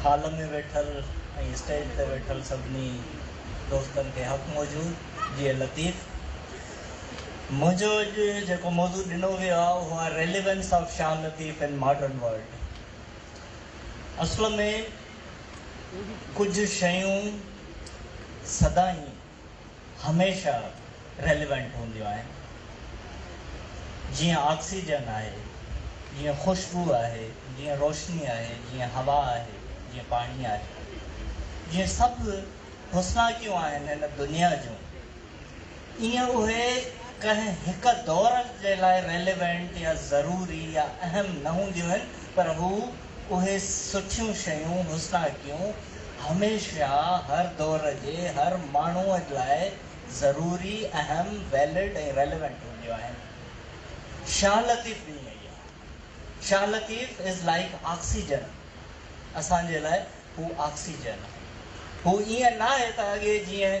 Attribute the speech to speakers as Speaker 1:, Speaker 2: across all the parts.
Speaker 1: Hall ۾ ويٺل ۽ stage تي ويٺل سڀني دوستن کي حق موجود جيئي لطيف. منهنجو اڄ جيڪو موضوع ڏنو ويو آهي اهو آهي Relevance of Shah Latif in Modern World. اصل ۾ ڪجهه شيون سدائين هميشه ريليونٽ هونديون آهن. جيئن آڪسيجن آهي، جيئن خوشبو آهي، جيئن روشني آهي، جيئن هوا آهي، جيئن پاڻي آهي. جيئن سڀ حسناڪيون آهن هن دنيا جون، ايئن اهي ڪنهن هڪ دور جي لاء ريليونٽ يا ضروري يا اهم نه هونديون آهن پر هو اهي سٺيون شيون، حسناڪيون، هميشه هر دور جي هر ماڻهوء لاء ضروري، اهم، Valid ۽ Relevant هونديون آهن. شاهه لطيف به ائين ئي آهي. Shah Latif is like oxygen اسان جي لاء. هو آڪسيجن. هو ائين ناهي ته اڳي جيئن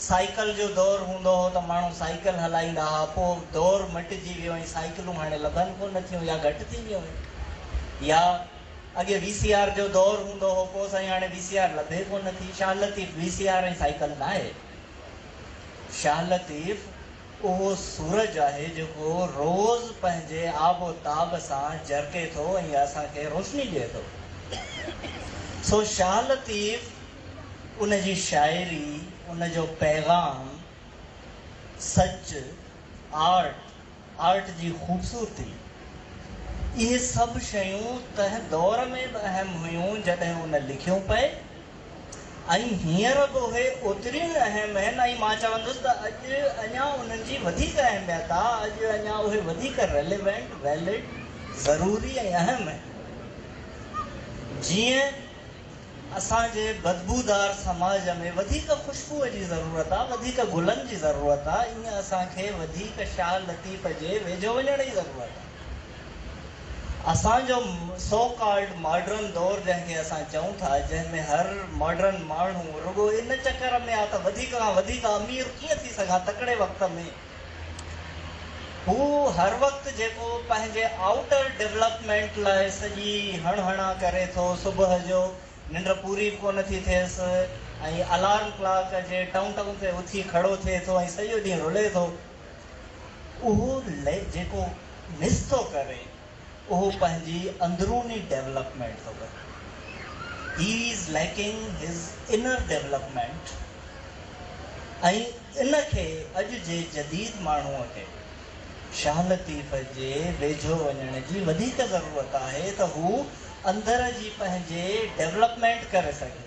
Speaker 1: سائيڪل جو دور هوندو هو ته ماڻهو سائيڪل هلائيندا ها، پوء دور مٽجي ويو ۽ سائيڪلون هاڻي لڀن ڪونه ٿيون يا گهٽ ٿي ويون آهن. يا اڳي وي سي آر جو دور هوندو هو، پوء سائين هاڻي وي سي آر لڀي ڪونه ٿي. Shah Latif, V C R ۽ cycle ناهي. شاهه لطيف. اهو سورج آهي جيڪو روز پنهنجي آب و تاب سان جرڪي ٿو ۽ اسان کي روشني ڏئي ٿو. سو شاهه لطيف ان جي شاعري، ان جو پيغام، سچ، آرٽ، آرٽ جي خوبصورتي، اهي سڀ شيون تنهن دور ۾ به اهم هيون جڏهن ان لکيون پئي. ۽ هينئر به اهي اوتريون ئي اهم آهن ۽ مان چوندس ته اڄ اڃا انهن جي وڌيڪ اهميت آ، اڄ اڃا اهي وڌيڪ Relevant، Valid، ضروري ۽ اهم آهن. جيئن اسان جي بدبودار سماج ۾ وڌيڪ خوشبوء جي ضرورت آ، وڌيڪ گلن جي ضرورت آ، ايئن اسان کي وڌيڪ شاهه لطيف جي ويجهو وڃڻ جي ضرورت آ. اسان جو سو ڪالڊ ماڊرن دور جنهن کي اسان چئون ٿا، جنهن ۾ هر ماڊرن ماڻهو رڳو ان چڪر ۾ آ ته وڌيڪ کان وڌيڪ امير ڪيئن ٿي سگهان تڪڙي وقت ۾، هو هر وقت جيڪو پنهنجي آئوٽر ڊولپمينٽ لاء سڄي هڻ هڻان ڪري ٿو، صبح جو ننڊ پوري به ڪونه ٿي ٿيس ۽ الارم ڪلاڪ جي ٽئون ٽئون تي اٿي کڙو ٿئي ٿو ۽ سڄو ڏينهن رلي ٿو. اهو ليگ جيڪو مس ٿو ڪري اهو پنهنجي اندروني ڊيولپمينٽ ٿو ڪري he is lacking his inner development ۽ ان کي اڄ جي جديد ماڻهو کي شاهه لطيف جي ويجهو وڃڻ جي وڌيڪ ضرورت آهي ته هو اندر جي پنهنجي ڊيولپمينٽ ڪري سگهي.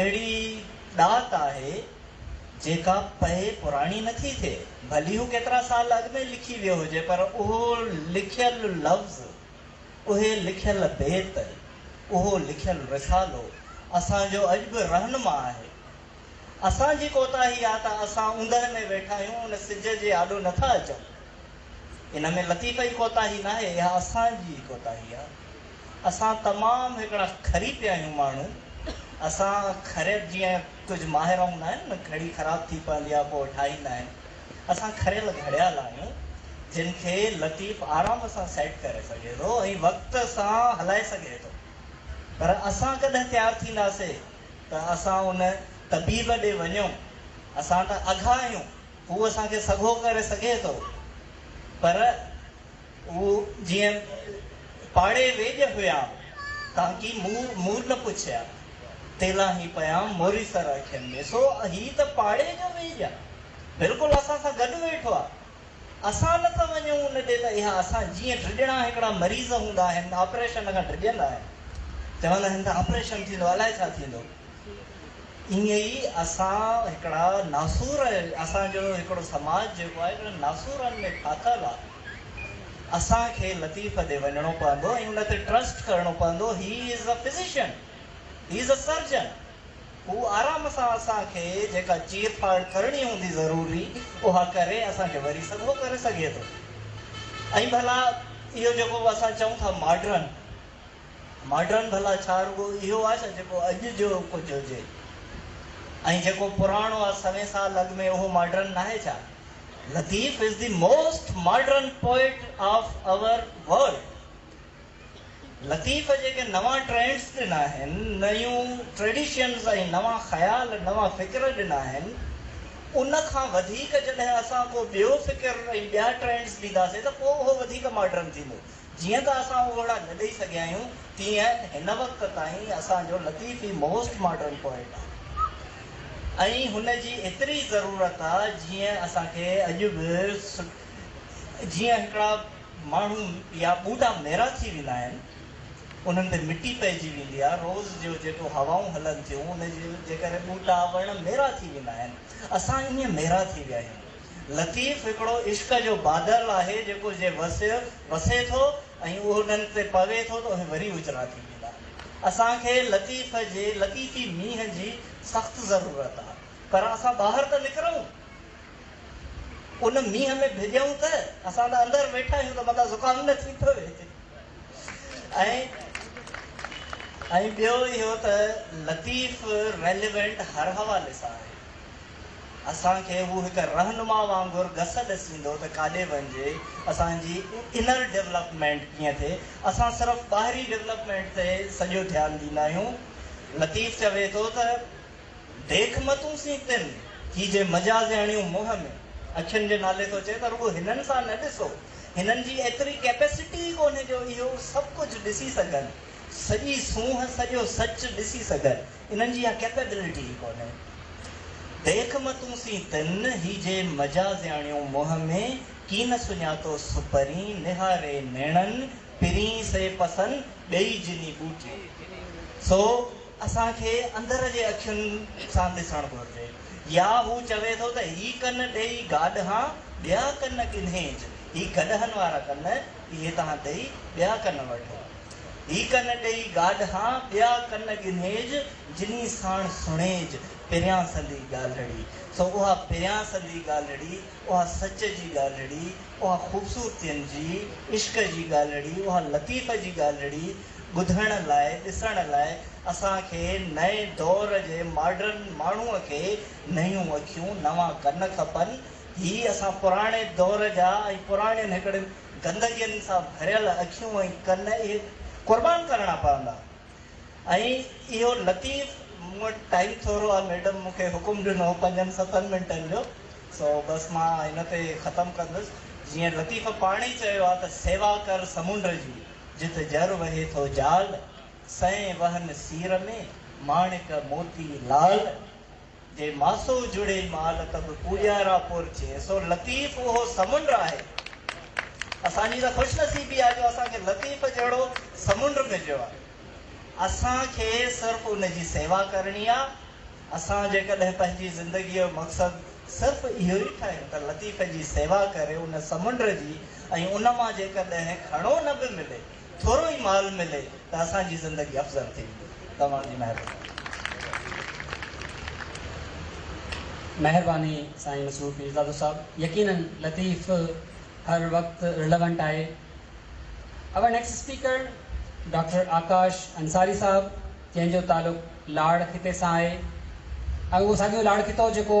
Speaker 1: اهڙي ڏات آهي جيڪا پئي پراڻي نه ٿي ٿئي، ڀلي هو ڪيترا سال اڳ ۾ لکي ويو هجي پر اهو لکيل لفظ، اهي لکيل بيت، اهو لکيل رسالو اسان جو اڄ به رهنما آهي. اسان جي ڪوتاهي آ ته اسان اوندهه ۾ ويٺا آهيون ان سج جي آڏو نه ٿا اچون. ان ۾ لطيف ئي ڪوتاهي ناهي اها اسان جي ئي ڪوتاهي آ. اسان تمام هڪڙا کري پيا آهيون ماڻهو اسان کريل جيئن ڪجهه ماهر هوندا آهن نه گهڙي خراب ٿي پوندي آهي پوء ٺاهيندا آهن اسان کريل گهڙيال آهيون جن کي لطيف آرام سان سيٽ ڪري سگهي ٿو ۽ وقت سان هلائي سگهي ٿو پر اسان ڪڏهن تيار ٿينداسي ته اسان ان طبيب ڏي وڃون اسان ته اگها آهيون هو اسان کي سگهو ڪري سگهي ٿو پر هو جيئن پاڙي ويڄ هيام تان ڪي مور مور نه پڇيا تيلا هي پيام موري سر اکين ۾ سو هي ته پاڙي جو ويڄ آ بلڪل اسان سان گڏ ويٺو آ اسان نه ٿا وڃون ان ڏي ته اها اسان جيئن ڊڄڻا هڪڙا مريض هوندا آهن آپريشن کان ڊڄندا آهن چوندا آهن ته آپريشن ٿيندو الائي ڇا ٿيندو ائين ئي اسان هڪڙا ناسور اسان جو هڪڙو سماج جيڪو آهي هڪڙن ناسورن ۾ ڦاٿل آهي اسان کي لطيف ڏي وڃڻو پوندو ۽ ان تي ٽرسٽ ڪرڻو پوندو هي از اي فزيشن هي از اي سرجن هو آرام سان اسان کي جيڪا چير ڦاڙ ڪرڻي هوندي ضروري اها ڪري اسان کي وري سگهو ڪري سگهي ٿو ۽ ڀلا اهو جيڪو اسان چئون ٿا ماڊرن ماڊرن ڀلا ڇا رڳو اهو آ ڇا جيڪو اڄ جو ڪجهه هجي ۽ جيڪو پراڻو آ سوين سال اڳ ۾ اهو ماڊرن ناهي ڇا؟ Latif is the most modern poet of our world. Latif جيڪي نوان ٽرينڊس ڏنا آهن، نيون ٽريڊيشنز ۽ نوان خيال، نوان فڪر ڏنا آهن، ان کان وڌيڪ جڏهن اسان ڪو ٻيو فڪر ۽ ٻيا ٽرينڊز ڏينداسين ته پوء اهو وڌيڪ ماڊرن ٿيندو. جيئن ته اسان اهو وڙا نه ڏئي سگهيا آهيون، تيئن هن وقت تائين اسان جو لطيف ئي موسٽ ماڊرن پوئٽ آهي ۽ هن جي ايتري ضرورت آ جيئن اسان کي اڄ به جيئن هڪڙا ماڻهو يا ٻوڍا ميرا ٿي ويندا آهن، انهن تي مٽي پئجي ويندي آ، روز جو جيڪو هوائون هلن ٿيون، ان جي ڪري ٻوٽا، وڻ ميرا ٿي ويندا آهن، اسان ائين ميرا ٿي ويا آهيون. لطيف هڪڙو عشق جو بادل آهي جيڪو جي وسيو وسي ٿو ۽ اهنن تي پوي ٿو ته اهي وري اجرا ٿي ويندا. اسان کي لطيف جي لطيفي مينهن جي سخت ضرورت آ پر اسان ٻاهر ته نڪرون ان مينهن ۾ ڀڄون ته اسان ته اندر ويٺا آهيون ته متان زڪام نه ٿي پوي ۽ ۽ ٻيو اهو ته لطيف ريليونٽ هر حوالي سان آهي. اسان کي هو هڪ رهنما وانگر گس ڏسيندو ته ڪاڏي وڃجي، اسان جي انر ڊولپمينٽ ڪيئن ٿئي، اسان صرف ٻاهري ڊولپمينٽ تي سڄو ڌيان ڏيندا آهيون. لطيف چوي ٿو ته ديک متون سين تن ڪي جي مجاز هڻيون منهن ۾، اکين جي نالي ٿو چئي ته رڳو هنن سان نه ڏسو، هنن جي ايتري ڪيپيسٽي ئي ڪونهي جو اهو سڀ ڪجهه ڏسي سگهن، سڄي سونهن، سڄو سچ ڏسي سگهن. انهن جي اها ڪيپيبلٽي ئي ڪونهي. ديک م تون سين تن هي جي مجازياڻيون منهن ۾ ڪين سڃاتو سپرين نهاري نيڻن پرين سي پسن ٻيئي جني ٻوٽيون سو اسان کي اندر جي اکين سان ڏسڻ گهرجي يا هو چوي ٿو ته هي ڪن ڏيئي گاڏهان ٻيا ڪن ڳنهيج هي گڏهن وارا ڪن اهي تهان ڏيئي ٻيا ڪن وٺو. هي ڪن ڏيئي گاڏهان، ٻيا ڪن ڳنهيج، جني ساڻ سڻيج، پريان سندي ڳالهڙي. سو اها پريان سندي ڳالهڙي، اها سچ جي ڳالهڙي، اها خوبصورتين جي، عشق جي ڳالهڙي، اها لطيف جي ڳالهڙي ٻڌڻ لاء، ڏسڻ لاء اسان کي نئين دور جي ماڊرن ماڻهوء کي نيون اکيون، نوان ڪن کپن. هي اسان پراڻي دور جا ۽ پراڻين هڪڙن گندگين سان ڀريل اکيون ۽ ڪن اهي قربان ڪرڻا پوندا ۽ اهو لطيف مون وٽ ٽائيم ٿورو آهي ميڊم مون کي حڪم ڏنو هو پنجن ستن منٽن جو سو بس مان هن تي ختم ڪندس جيئن لطيف پاڻ ئي چيو آهي ته سيوا ڪر سمنڊ جي جت جر وهي ٿو جال سئين وهن سير ۾ ماڻڪ موتي لال. جي ماسو جڙي مال ته به پوريارا پور چئي سو لطيف اهو سمنڊ آهي اسان جي ته خوش نصيبي آهي جو اسان کي لطيف جهڙو سمنڊ مليو آهي اسان کي صرف ان جي سيوا ڪرڻي آهي اسان جيڪڏهن پنهنجي زندگي جو مقصد صرف اهو ئي ٺاهيون ته لطيف جي سيوا ڪري ان سمنڊ جي ۽ ان مان جيڪڏهن کڻو نه به ملي ٿورو ئي مال ملي ته اسان جي زندگي افضل ٿي ويندي توهان جي مهرباني.
Speaker 2: مهرباني سائين مسرور پيرزادو صاحب يقيناً لطيف هر وقت رليونٽ آهي our next speaker doctor Akash Ansari صاحب جنهن جو تعلق لاڙ خطي سان آهي ۽ اهو ساڳيو لاڙ خطو جيڪو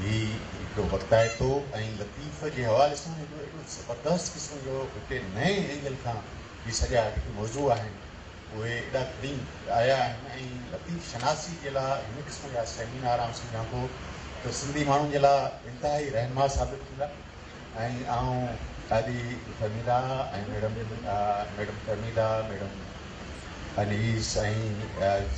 Speaker 3: هي هڪ وقتائتو ۽ لطيف جي حوالي سان هڪڙو اهڙو زبردست قسم جو هتي نئين اينگل کان جي سڄا جيڪي موضوع آهن اهي ايڏا کڻي آيا آهن ۽ لطيف شناسي جي لاء هن قسم جا سيمينار آئون سمجهان ٿو ته سنڌي ماڻهن جي لاء انتهائي رهنما ثابت ٿيندا. ۽ آئون Qazi Fahmida ۽ madam madam Fahmida madam Anees ۽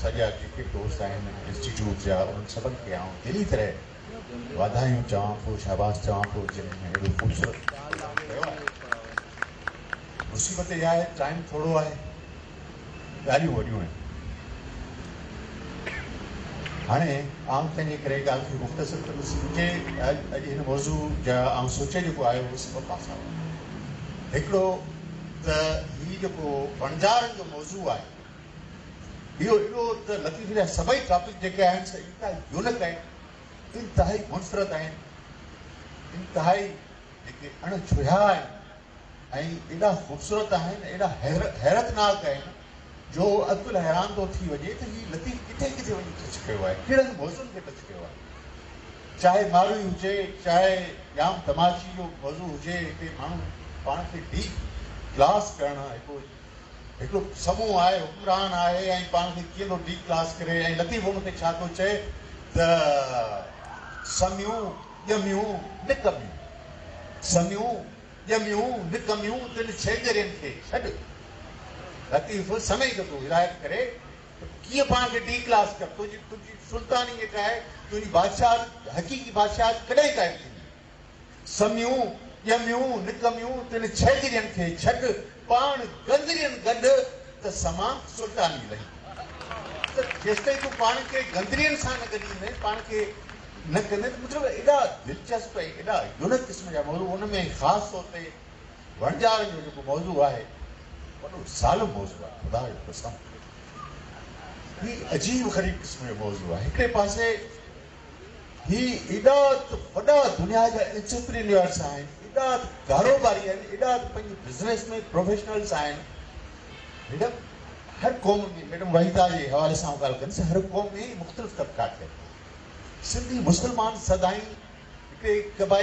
Speaker 3: سڄا جيڪي دوست آهن انسٽيٽيوٽ جا انهن سڀن کي آئون دلي طرح واڌايون چوان ٿو شاباس چوان ٿو جن اهڙو خوبصورت پروگرام ڪيو آهي مصيبت اها آهي ٽائيم ٿورو آهي ڳالهيون وڏيون آهن. هاڻي آئون پنهنجي ڪري ڳالهه کي مختصر ڪندس. مون کي اڄ هن موضوع جا آئون سوچي جيڪو آيو هو سي ٻه پاسا هئا. هڪڙو ته هي جيڪو وڻجارن جو موضوع آهي اهو ايڏو ته لطيف جا سڀئي ٽاپڪ جيڪي آهن سي انتهائي يونڪ آهن، انتهائي منفرد آهن، انتهائي جيڪي اڻ ڇهيا آهن ۽ ايڏا خوبصورت آهن، ايڏا حيرتناڪ آهن جو عقل حيران ٿو ٿي وڃي ته هي لطيف ڪٿي ڪٿي وڃي ٽچ ڪيو آهي، ڪهڙن موضوعن کي ٽچ ڪيو آهي. چاهي ماروئي هجي، چاهي ڄام تماچي جو موضوع هجي، هتي ماڻهو پاڻ کي ڊي ڪلاس ڪرڻ هڪڙو هڪڙو سمون آهي، حڪمران آهي ۽ پاڻ کي ڪيئن ٿو ڊي ڪلاس ڪري ۽ لطيف ان تي ڇا ٿو چئي ته سميون، ڄميون نڪميون سميون ڄميون نڪميون تن ڇيڄرين کي ڇڏ. لطيف سمي جو ٿو هدايت ڪري ته ڪيئن پاڻ کي ڊي ڪلاس ڪر تنهنجي تنهنجي سلطاني جيڪا آهي تنهنجي بادشاهت حقيقي بادشاهت ڪڏهن قائم ٿيندي. سميون ڄميون نڪميون تن ڇيڄرين کي ڇڏ پاڻ گندرين گڏ ته سمان سلطاني لهندي. ته جيستائين تون پاڻ کي گندرين سان نه گڏيندين پاڻ کي نه ڪندي ته مطلب ايڏا دلچسپ ۽ ايڏا يونڪ قسم جا موضوع ان ۾ خاص طور تي وڻجارن جو جيڪو موضوع آهي وڏو ظالم موضوع آهي خدا جو قسم هي عجيب غريب قسم جو موضوع آهي هڪڙي پاسي هي ايڏا وڏا دنيا جا انسپرينيورس آهن ايڏا ڪاروباري آهن ايڏا پنهنجي بزنس ۾ پروفيشنلس آهن هن هر قوم ۾ ميڊم وحيده جي حوالي سان آئون ڳالهه ڪندس هر قوم ۾ مختلف طبقات ٺهيل آهن سنڌي مسلمان سدائين هڪڙي قبائلي